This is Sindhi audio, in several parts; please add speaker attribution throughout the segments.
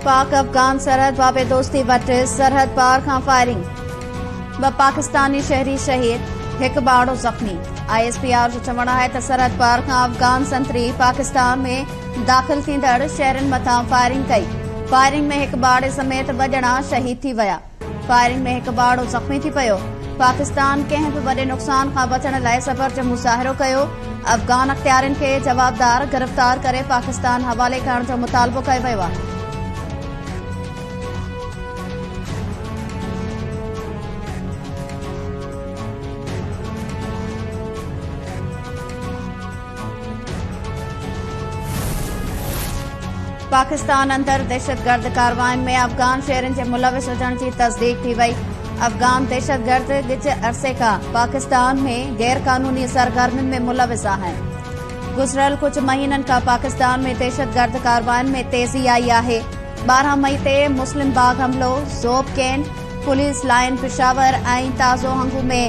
Speaker 1: پاڪ افغان سرحد بابي دوستي وٽ سرحد پار کان فائرنگ، ٻه پاڪستاني شهري شهيد، هڪ ٻارڙو زخمي، آء ايس پي آر جو چوڻ آهي ته سرحد پار کان افغان سنتري پاڪستان ۾ داخل ٿيندڙ شهرين مٿان فائرنگ ڪئي، فائرنگ ۾ هڪ ٻارڙي سميت ٻه ڄڻا شهيد ٿي ويا. فائرنگ ۾ هڪ ٻارڙو زخمي ٿي پيو، پاڪستان ڪنهن به وڏي نقصان کان بچڻ لاء صبر جو مظاهرو ڪيو، افغان اختيارين کي جوابدار گرفتار ڪري پاڪستان حوالي ڪرڻ جو مطالبو ڪيو ويو آهي. پاڪستان اندر دهشتگرد ڪاررواين ۾ افغان شهرين جي ملوث هجڻ جي تصديق ٿي وئي افغان دهشتگرد ڳچ عرصي کان پاڪستان ۾ غير قانوني سرگرمين ۾ ملوث آهن گذريل ڪجهه مهينن کان پاڪستان ۾ دهشتگرد ڪاررواين ۾ تيزي آئي آهي ٻارهن مئي تي مسلم باغ حملو Zhob cantt police line Peshawar ۽ تازو هنگو ۾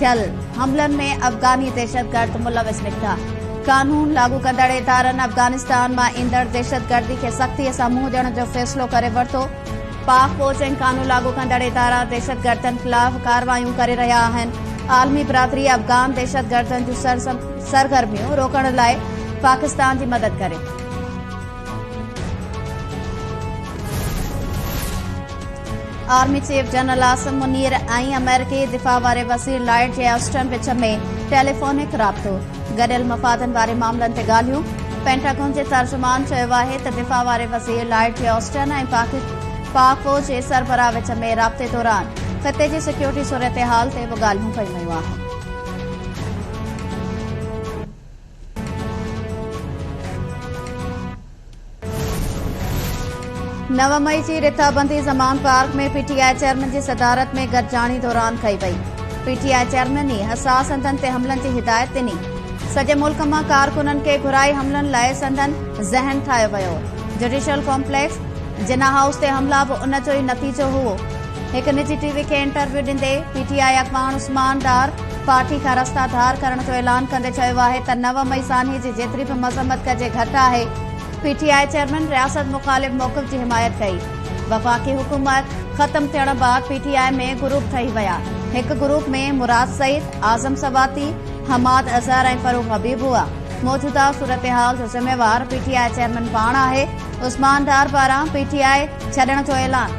Speaker 1: ٿيل حملن ۾ افغاني دهشتگرد ملوث نڪتا، قانون لاڳو ڪندڙ ادارن افغانستان مان ايندڙ دهشتگردي کي سختي سان منهن ڏيڻ جو فيصلو ڪري ورتو، پاڪ فوج ۽ قانون لاڳو ڪندڙ ادارا دهشتگردن خلاف ڪارروايون ڪري رهيا آهن، عالمي برادري افغان دهشتگردن جون سرگرميون روڪڻ لاء پاڪستان جي مدد ڪري. Army chief general Asim Munir ۽ آمريڪي دفاع واري وزير لائيڊ جي آسٽن وچ ۾ ٽيليفونڪ رابطو گڏيل مفادن واري معاملن تي ڳالهيون پينٽاگون جي ترجمان چيو آهي ته دفاع واري وزير لائيڊ جي آسٽن ۽ پاڪ فوج جي سربراهه وچ ۾ رابطي دوران خطي جي سيڪيورٽي صورتحال تي به ڳالهيون ڪيون ويون آهن نو مئي جي رٿا بندي Zaman Park ۾ P T I chairman جي صدارت ۾ گڏجاڻي دوران ڪئي وئي پي ٽي آء چيئرمين ئي حساس هنڌن تي حملن جي هدايت ڏني سڄي ملڪ مان ڪارڪنن کي گهرائي حملن لاء سندن ذهن ٺاهيو ويو جوڊيشل ڪمپليڪس جنا هائوس تي حملا به ان جو ئي نتيجو هو هڪ نجي ٽي وي کي انٽرويو ڏيندي پي ٽي آء اڳواڻ عثمان ڊار پارٽي کان رستا ڌار ڪرڻ جو اعلان ڪندي چيو آهي ته نو مئي سانحي جي جيتري به مذمت ڪجي گهٽ آهي، پي ٽي آء چيئرمين رياست مخالف موقف جي حمايت ڪئي، وفاقي حڪومت ختم ٿيڻ بعد پي ٽي آء ۾ گروپ ٺهي ويا، هڪ گروپ ۾ مراد سعيد، اعظم سواتي، حماد اظهر ۽ فروغ حبيب هئا، موجوده صورتحال جو ذميوار پي ٽي آء چيئرمين پاڻ آهي، عثمان ڊار پاران پي ٽي آء ڇڏڻ جو اعلان.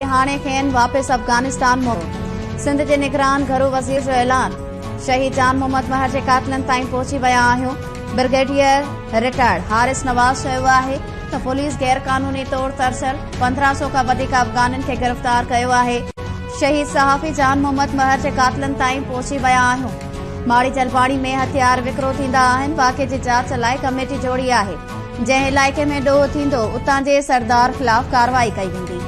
Speaker 1: هاڻي کين واپس افغانستان موڪليو، سنڌ جي نگران گهرو وزير جو اعلان، شهيد جان محمد مهر جي قاتلن تائين پهچي ويا آهيون، برگيڊيئر رٽائرڊ حارث نواز چيو آهي ته پوليس غير قانوني طور ترسيل پندرهن سؤ کان وڌيڪ افغانن کي گرفتار ڪيو آهي، شهيد صحافي جان محمد مهر جي قاتلن تائين پهچي ويا آهيون، ماڙي جلباڻي ۾ هٿيار وڪرو ٿيندا آهن، واقعي جي جاچ لاء ڪميٽي جوڙي آهي. جنهن علائقي ۾ ڏوهه ٿيندو، اتان جي سردار خلاف ڪارروائي ڪئي ويندي.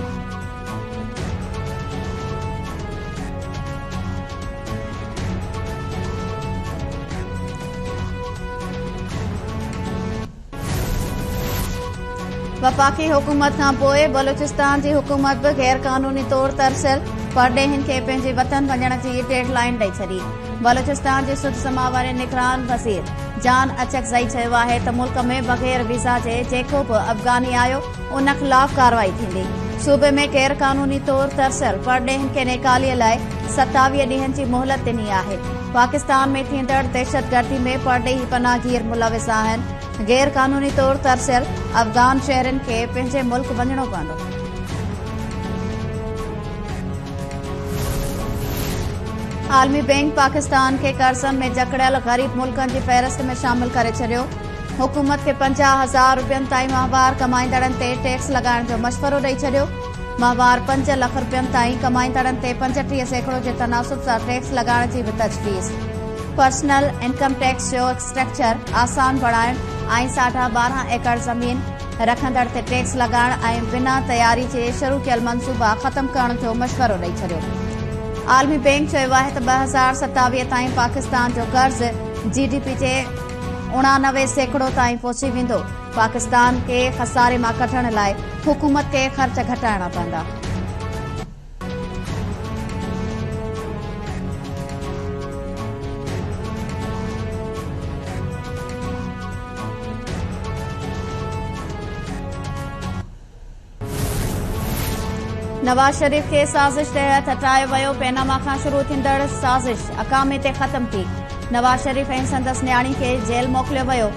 Speaker 1: وفاقي حڪومت کانپوء بلوچستان جي حڪومت به غيرقانوني طور ترسيل پرڏيهين کي پنهنجي وطن وڃڻ جي ڊيڊ لائين ڏئي ڇڏي، بلوچستان جي سڌ سماء واري نگران وزير جان اچڪزئي چيو آهي ته ملڪ ۾ بغير ويزا جي جيڪو به افغاني آيو ان خلاف ڪارروائي ٿيندي، صوبي ۾ غير قانوني طور ترسيل پرڏيهين کي نيڪالي لاء ستاويهه ڏينهن جي مهلت ڏني آهي، پاڪستان ۾ ٿيندڙ دهشتگردي ۾ پرڏيهي پناهگير ملوث آهن، غير قانوني طور ترسيل افغان شهرين کي پنهنجي ملڪ وڃڻو پوندو. عالمي بئنڪ پاڪستان کي قرضن ۾ جڪڙيل غريب ملڪن جي فهرست ۾ شامل ڪري ڇڏيو حڪومت کي پنجاهه هزار روپين تائين ماهوار ڪمائيندڙن تي ٽيڪس لڳائڻ جو مشورو ڏئي ڇڏيو ماهوار پنج لک روپين تائين ڪمائيندڙن تي پنجٽيهه سيڪڙو جي تناسب سان ٽيڪس لڳائڻ جي به تجويز پرسنل انڪم ٽيڪس جو اسٽرڪچر آسان بڻائڻ ۽ ساڍا ٻارهن ايڪڙ زمين رکندڙ تي ٽيڪس لڳائڻ ۽ بنا تياري جي شروع ڪيل منصوبا ختم ڪرڻ جو مشورو ڏئي ڇڏيو عالمي بئنڪ چيو آهي ته ٻه هزار ستاويهه تائين پاڪستان جو قرض جي ڊي پي جي اڻانوي سيڪڙو تائين پهچي ويندو پاڪستان کي خساري مان ڪڍڻ لاء حڪومت کي خرچ گهٽائڻا پوندا نواز شريف کي سازش تحت هٽايو ويو، پيناما کان شروع ٿيندڙ سازش اڪامي تي ختم ٿي، نواز شريف ۽ سندس نياڻي کي جيل موڪليو ويو،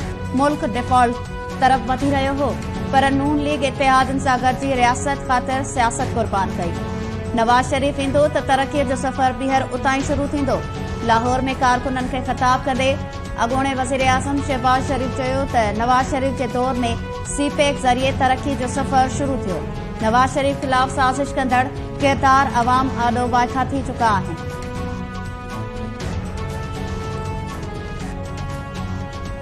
Speaker 1: ملڪ ڊيفالٽ طرف وڌي رهيو هو پر نون ليگ اتحادين سان گڏجي رياست خاطر سياست قربان ڪئي. نواز شريف ايندو ته ترقي جو سفر ٻيهر اتان ئي شروع ٿيندو. لاهور ۾ ڪارڪنن کي خطاب ڪندي اڳوڻي وزيراعظم شهباز شريف چيو ته نواز شريف جي دور ۾ سي پيڪ ذريعي ترقي جو سفر شروع ٿيو، نواز شريف خلاف سازش ڪندڙ ڪردار عوام آڏو وائکا ٿي چڪا آهن.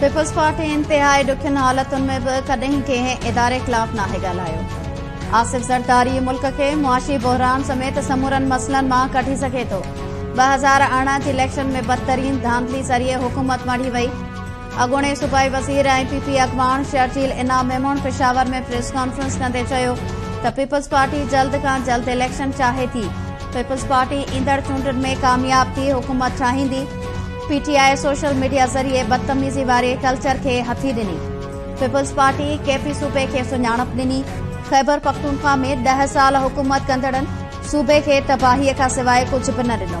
Speaker 1: پيپلزپارٽي انتهائي ڏکين حالتن ۾ به ڪڏهن ڪنهن اداري خلاف ناهي ڳالهايو، آصف زرداري ملڪ کي معاشي بحران سميت سمورن مسئلن مان ڪڍي سگهي ٿو، ٻه هزار ارڙهن جي اليڪشن ۾ بدترين ڌانڌلي ذريعي حڪومت مڙهي وئي، اڳوڻي صوبائي وزير ۽ پي پي اڳواڻ شرجيل انعام ميمڻ پشاور ۾ پريس ڪانفرنس ڪندي چيو ته پيپلز پارٽي جلد کان جلد اليڪشن چاهي ٿي، پيپلز پارٽي ايندڙ چونڊن ۾ ڪامياب ٿي حڪومت ٺاهيندي، P T I social media ذريعي بدتميزي واري ڪلچر کي هٿي ڏني، پيپلز پارٽي ڪيفي صوبي کي سڃاڻپ ڏني، خيبرپختونخوا ۾ ڏهه سال حڪومت ڪندڙن صوبي کي تباهي کان سواء ڪجهه به نه ڏنو.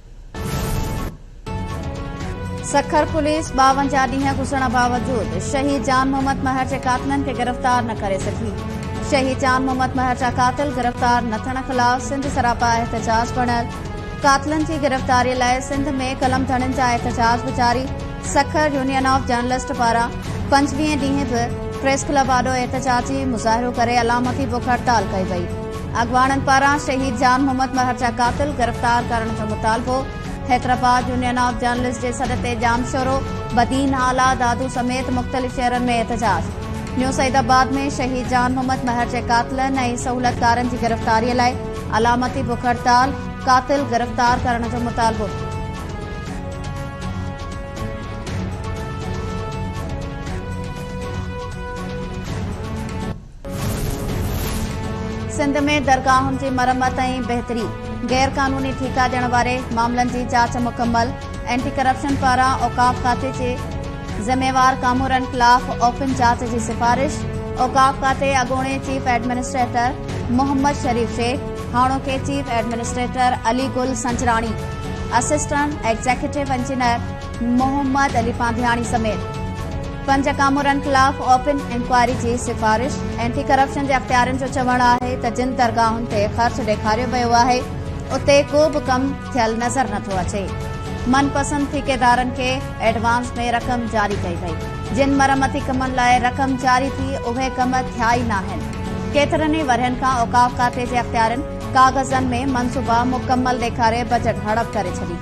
Speaker 1: سکر پوليس ٻاونجاهه ڏينهن گذرڻ باوجود شهيد جان محمد مهر جي قاتلن کي گرفتار نه ڪري سگهي شهيد جان محمد مهر جا قاتل گرفتار نه ٿيڻ خلاف سنڌ سراپا احتجاج بڻيل قاتلن جي گرفتاري لاء سنڌ ۾ قلم ڌڻين جا احتجاج به جاري سکر يونين آف جرنلسٽ پاران پنجويهين ڏينهن به پريس ڪلب آڏو احتجاجي مظاهرو ڪري علامتي بک هڙتال ڪئي وئي اڳواڻن پاران شهيد جان محمد مهر جا قاتل گرفتار ڪرڻ جو مطالبو، حيدرآباد يونين آف جرنلسٽ جي سڏ تي ڄامشورو، بدين، آلا، دادو سميت مختلف شهرن ۾ احتجاج، نيو سعيد آباد ۾ شهيد جان محمد مهر جي قاتلن ۽ سهولتڪارن جي گرفتاري لاء علامتي بک هڙتال، قاتل گرفتار ڪرڻ جو مطالبو. سنڌ ۾ درگاهن جي مرمت ۽ بهتري، غير قانوني ٺيڪا ڏيڻ واري معاملن جي جاچ مڪمل، اينٽي ڪرپشن پاران اوقاف کاتي جي ذميوار ڪامورن خلاف اوپن جاچ جي سفارش، اوقاف کاتي اڳوڻي چيف ايڊمنسٽريٽر محمد شريف شيخ، هاڻوڪي chief administrator Ali Gul Sanjrani, assistant executive engineer Muhammad Ali Pandhiani سميت. پنج ڪامورن خلاف اوپن انڪوائري جي سفارش، اينٽي ڪرپشن جي اختيارين جو چوڻ آهي ته جن درگاهن تي خرچ ڏيکاريو ويو آهي اتي ڪو به ڪم ٿيل نظر نه ٿو اچي، من پسند ٺيڪيدارن کي ايڊوانس ۾ رقم جاري ڪئي وئي، جن مرمتي ڪمن لاء رقم جاري ٿي اهي ڪم ٿيا ئي ناهن، ڪيترن ئي ورهين کان اوقاف کاتي جي اختيارين ڪاغذن ۾ منصوبا مڪمل ڏيکاري بجيٽ هڙپ ڪري ڇڏي.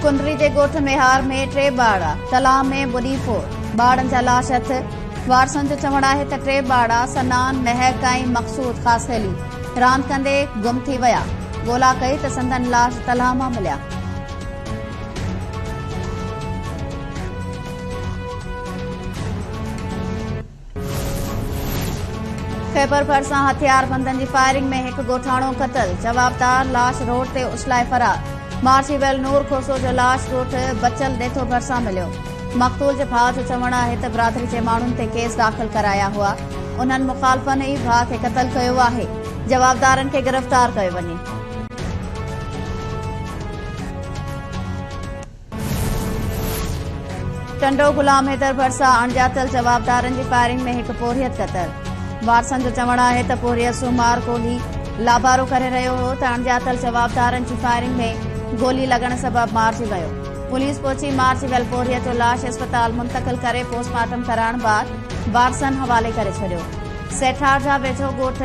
Speaker 1: ڪنري جي ڳوٺ ميهار ۾ ٽي ٻارڙا تلاء ۾ ٻڏي فوت، ٻارڙن جا لاش هٿ، وارثن جو چوڻ آهي ته ٽي ٻارڙا سنان، مهڪ ۽ مقصود خاصخيلي راند ڪندي گم ٿي ويا، ڳولا ڪئي ته سندن لاش تلاء مان مليا. خيبرڀرسان هٿياربندن جي فائرنگ ۾ هڪ ڳوٺاڻو قتل، جوابدار لاش روڊ تي اڇلائي فرار، مارچي ويل نور کوسو جو لاش ڳوٺ بچل ڏيٿو ڀرسان مليو، مقتول جي ڀاء جو چوڻ آهي ته برادري جي ماڻهن تي ڪيس داخل ڪرايا هئا، انهن مخالفن ئي ڀاء کي قتل ڪيو آهي، جوابدارن کي گرفتار ڪيو وڃي. ٽنڊو غلام حيدر ڀرسان اڻڄاتل جوابدارن جي فائرنگ ۾ هڪ پورهيت قتل وارثن جو چوڻ آهي ته پورهيت سومار ڪولهي لابارو ڪري رهيو هو ته اڻڄاتل جوابدارن جي فائرنگ ۾ گولي لڳڻ سبب مارجي ويو پوليس پهچي مارجي ويل پورهيت جو لاش اسپتال منتقل ڪري پوسٽ مارٽم ڪرائڻ بعد وارثن حوالي ڪري ڇڏيو سيٺار جا ويجهو ڳوٺ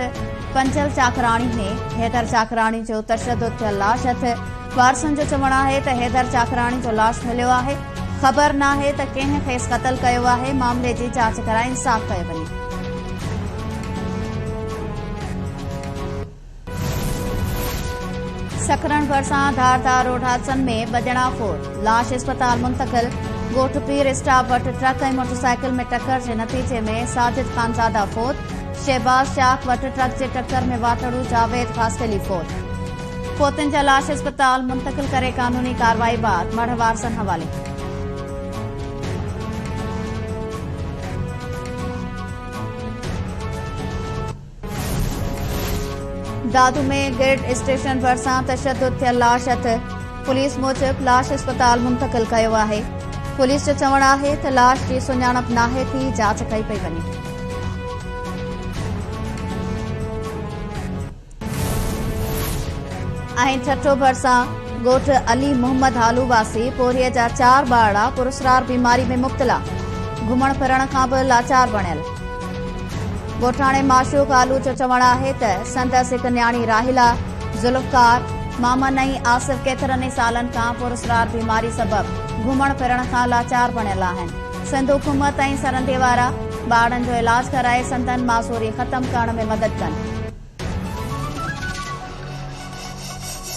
Speaker 1: پنجل چاڪراڻي ۾ حيدر چاڪراڻي جو تشدد ٿيل لاش هٿ وارثن جو چوڻ آهي ته حيدر چاڪراڻي جو لاش مليو آهي، خبر ناهي ته ڪنهن کيس قتل ڪيو آهي، معاملي جي جاچ ڪرائي انصاف ڪيو وڃي. سکرن ڀرسان ڌار ڌار روڊ حادثن ۾ ٻه ڄڻا فوت، لاش اسپتال منتقل، ڳوٺ پير اسٽاپ وٽ ٽرڪ ۽ موٽرسائيڪل ۾ ٽڪر جي نتيجي ۾ ساجد خانزاده فوت، شهباز چاڪ وٽ ٽرڪ جي ٽڪر ۾ واٽڙو جاويد خاصخيلي فوت. فوتين جا لاش اسپتال منتقل ڪري قانوني ڪارروائي بعد مڙهه وارثن حوالي. دادو ۾ گرڊ اسٽيشن ڀرسان تشدد ٿيل لاش هٿ، پوليس موجب لاش اسپتال منتقل ڪيو آهي، پوليس جو چوڻ آهي ته لاش جي سڃاڻپ ناهي ٿي، جاچ ڪئي پئي وڃي. ۽ ٺٽو ڀرسان ڳوٺ علي محمد هالو واسي پورهيي جا چار ٻارڙا پراسرار بيماري ۾ مبتلا گهمڻ ڦرڻ کان به لاچار بڻيل ڳوٺاڻي معشوق هالو جو چوڻ آهي ته سندس هڪ نياڻي راهيلا ذوالفقار مامن ۽ آصف ڪيترن ئي سالن کان پراسرار بيماري سبب گهمڻ ڦرڻ کان لاچار بڻيل آهن سنڌ حڪومت ۽ سرندي وارا ٻارڙن جو علاج ڪرائي سندن معذوري ختم ڪرڻ ۾ مدد ڪن.